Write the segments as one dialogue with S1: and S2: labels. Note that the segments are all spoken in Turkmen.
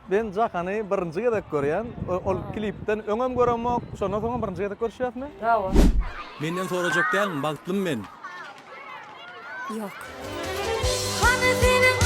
S1: Men Jahany birinji gezek görýän. Ol klipden öňem göremok, şondan soňam birinji gezek görüşýäsmi? Hawa. Menden sorajak dälmi bagtlymy men. Ýok. Hany seniň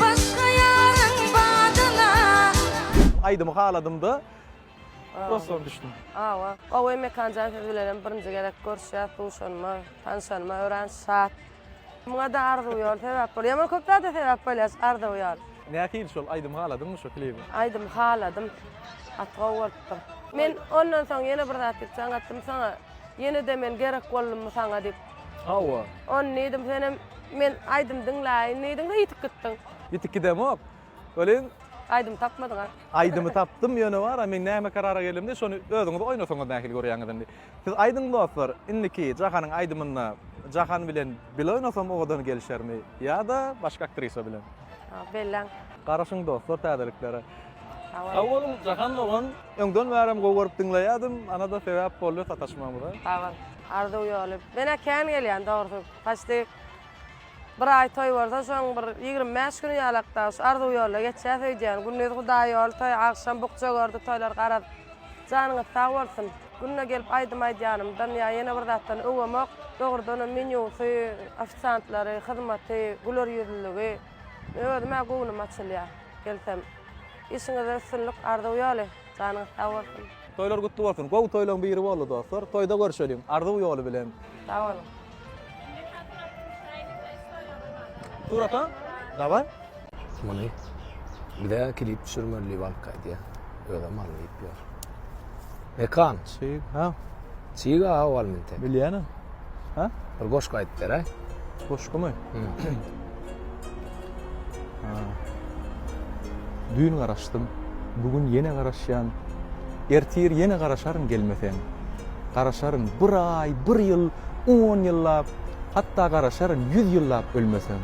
S1: başga ýaryň badyna. Aýdymy haladymda prosto düşdüm. Hawa. Gowy Mekanjan siz bilenem birinji gezek görüşýäs, duşanyma, tanyşanyma örän şat. Muňada arzuw ýol sebäp bolýar. Ýaman köp zada sebäp bolýar şu arzuw ýol. Nähili şol aýdymy haladyňmy şu klibi? Aýdymy haladym. Gaty gowy bolupdyr. Men ondan soň ýene bir zat diýip jaň atdym saňa. Ýene-de men gerek boldummy saňa diýip. Hawa. Ony diýdim senem men aýdym diňläýin diýdiň-de ýitip gitdiň. Ýitip gidemok. Welin Aýdymy tapmadyň a? Aýdymy tapdym, ýöne bar a men näme karara geldimde şony özüňiz oýnasaňyz nähili görýäňiz indi. Siz aýdyň dostlar, indiki Jahanyň aýdymynda Jahan bilen bile oýnasam owadan gelişermi ýa-da başga aktrisa bilen? A, belläň. Garaşyň dostlar täzeliklere. Sag Sag boluň. boluň Jahan dogan, öňden bärem gowy görüp diňleýädim, ana-da sebäp boldy sataşmamyza. Sag bol. Arzuw ýoly. Men-ä kän gelýän dogrusy. Paçti Bir aý toý bolsa şoň bir ýigrimi bäş güni ýalak dagy şu arzuw ýolda geçýäs öýdýän. Gündiz Hudaý ýoly toý, agşam bukja gördi toýlar garaz. Janyňyz sag bolsun. Günde gelip aýdym aýdýanymdan ýa ýene bir zatdan öwemok. Dogrudanam menýusy, ofisiantlary, hyzmaty, güler ýüzlüligi. Özüm-ä göwnüm açylýar gelsem. Işiňizde üstünlik, arzuw ýoly. Janyňyz sag bolsun. Toýlar gutly bolsun. Gowy toýlaryň biri boldy dostlar. Toýda görşeliň. Arzuw ýoly bilen. Sag boluň. Surata? Daway. Muny bize klip düşürmeli wagt gaýdýa. Özem mal diýip ýör. Mekan. Çig, ha. Çig a ol minte. Bilýäne. Ha? Bir goşgy aýdyp beräý. Goşgumy? Düýn garaşdym, bu gün ýene garaşýan. Ertir ýene garaşaryn gelmeseň. Garaşaryn bir aý, bir ýyl, on ýyllap, hatda garaşaryn ýüz ýyllap ölmeseň.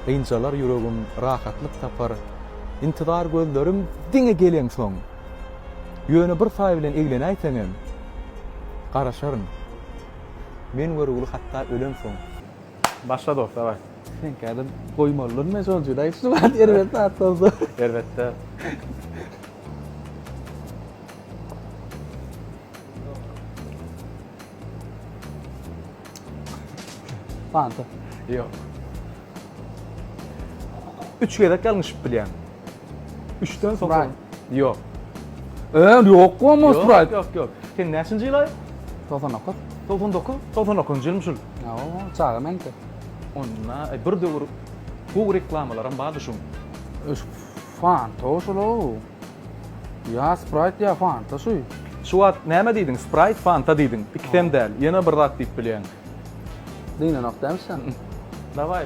S1: Gynjalar ýüregim, rahatlyk tapar. Intizar gözlerim diňe geleňsoň. Ýöne bir taý bilen eglenäýseňem, garaşaryn. Men görügli hatda ölemsoň. Başla dos, daway. Sen kädem goýmalydyryn men şol jüri aýt şu wagt erbet zat bolsa. Erbet däl. Fanta. Ýok. Üç gezek ýalňyşyp bilýän. Üçden sokaň. Yok. Eee yok bu ama Sprite. Yok yok yok. Sen neşinci yıl ay? 99. 99? 99 yıl müşül. Ya o çaga menki. Onna e, bir dövür bu reklamalaram bardı şun. Fanta o şulu. Ya Sprite ya Fanta şu. Şu wagt näme diýdiň? Sprite, Fanta diýdiň. Ikisem däl. Ýene bir zat diýip bilýän. Dine nokta sen. Davay.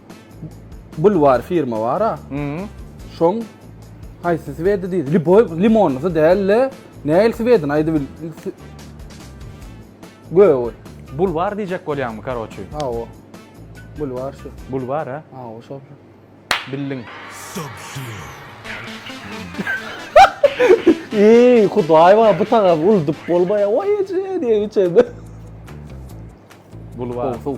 S1: Bulwar firma bara. Hmm. Şoň haýsy swedi diýdi? Liboy limonlysy däl-le. Näil swedini aýdyp bil. Göýe goý. Bulwar diýjek bolýaňmy, karoçi? Hawa. Bulwar şu. Bulwar, ha? Hawa, şol. Bildiň. Eý, Hudaý bar, bu tagam uldup bolmaýar. Oý, eje diýip içende. Bulwar. Sow, sow.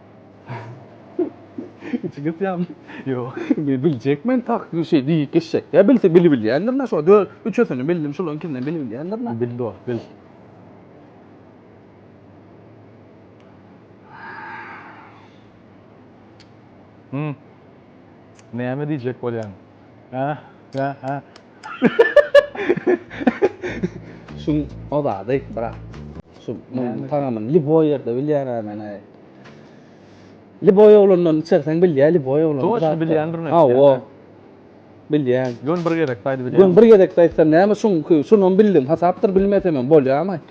S1: Içi gysyam. Ýok. Men biljekmen tak şeý diýip geçjek. Ýa bilse bili bilýändir-le şo dö üçüsini bildim şularyň ikisini bili bilýändir-le. Bil dost, bil. Hum. Näme diýjek bolýaň? Şuň o zady brat. Şu munuň tagamyny lýuboý ýerde bilýän adamlar. Lýuboý oglandan içerseň bilýär lýuboý oglan. Toçka bilýändir näme. Hawa. Bilýän. Ýöne bir gezekde aýdyberýär. Ýöne bir gezekde aýtsam näme şuňky şunam bildim hasapdyr bilmesemem bolýarmy?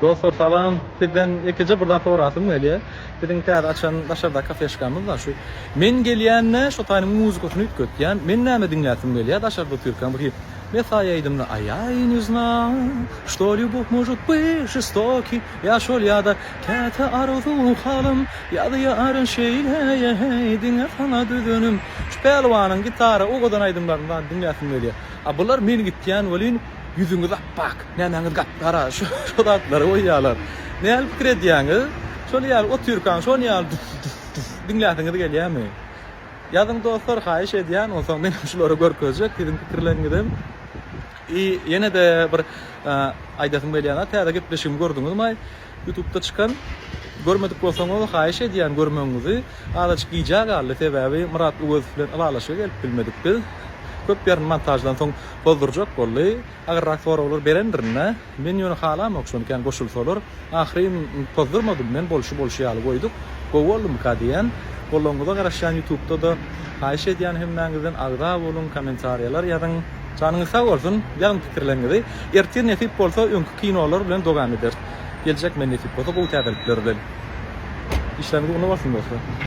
S1: Dostlar salam. Sizden ýekeje bir zat sorasym gelýär. Biziň täze açan daşardaky kafeşkamyz bar şu. Men gelýände şu taýynyň muzykasyn üýtgetýän. Men näme diňläsim gelýär daşarda otyrkam bir hit. Mesaý aýdymly A ýa i ne znaa, što ljubow možut by žestoki, ýa şol ýa-da Käte arzu halym ýazýaryn şeýle ýeý, diňe saňa düzenim. Şu Pälwanyň gitara owadan aýdymlaryny bar diňläsim gelýär. A bular men gitýän welin. Ýüzüňiz apbak, nämäňiz gap-gara, şo zatlary goýýalar. Nähili pikir edýäňiz? Şol ýaly otyrkaň, şol ýaly duf-duf-duf diňläsiňiz gelýärmi? Ýazyň dostlar, haýyş edýän, onsoň men hem şulary görkezjek, siziň pikirleriňizem. I ýene-de bir aýdasym gelýär, täze gepleşigimi gördüňizmaý? Ýutubda çykan görmedik bolsaňyz haýyş edýän görmegiňizi azajyk gijä galdy sebäbi Myrat Öwezow bilen ylalaşyga gelip bilmedik biz köp ýerini montaždan soň bozdurjak boldy agyrrak soraglar berendirinä men ýöne halamok şony kän goşulsalar ahyryn pozdurmadym men bolşy bolşy ýaly goýduk gowy boldumyka diýen bolanyňyza garaşýan ýutubda-da haýyş edýän hemmäňizden agza boluň kommentariýalar ýazyň janyňyz sag bolsun ýazyň pikirleriňizi Ertir nesip bolsa öňki kinolar bilen dowam ederis. Geljek men nesip bolsa gowy täzelikler bilen. Işleriňiz ugruna bolsun dostlar.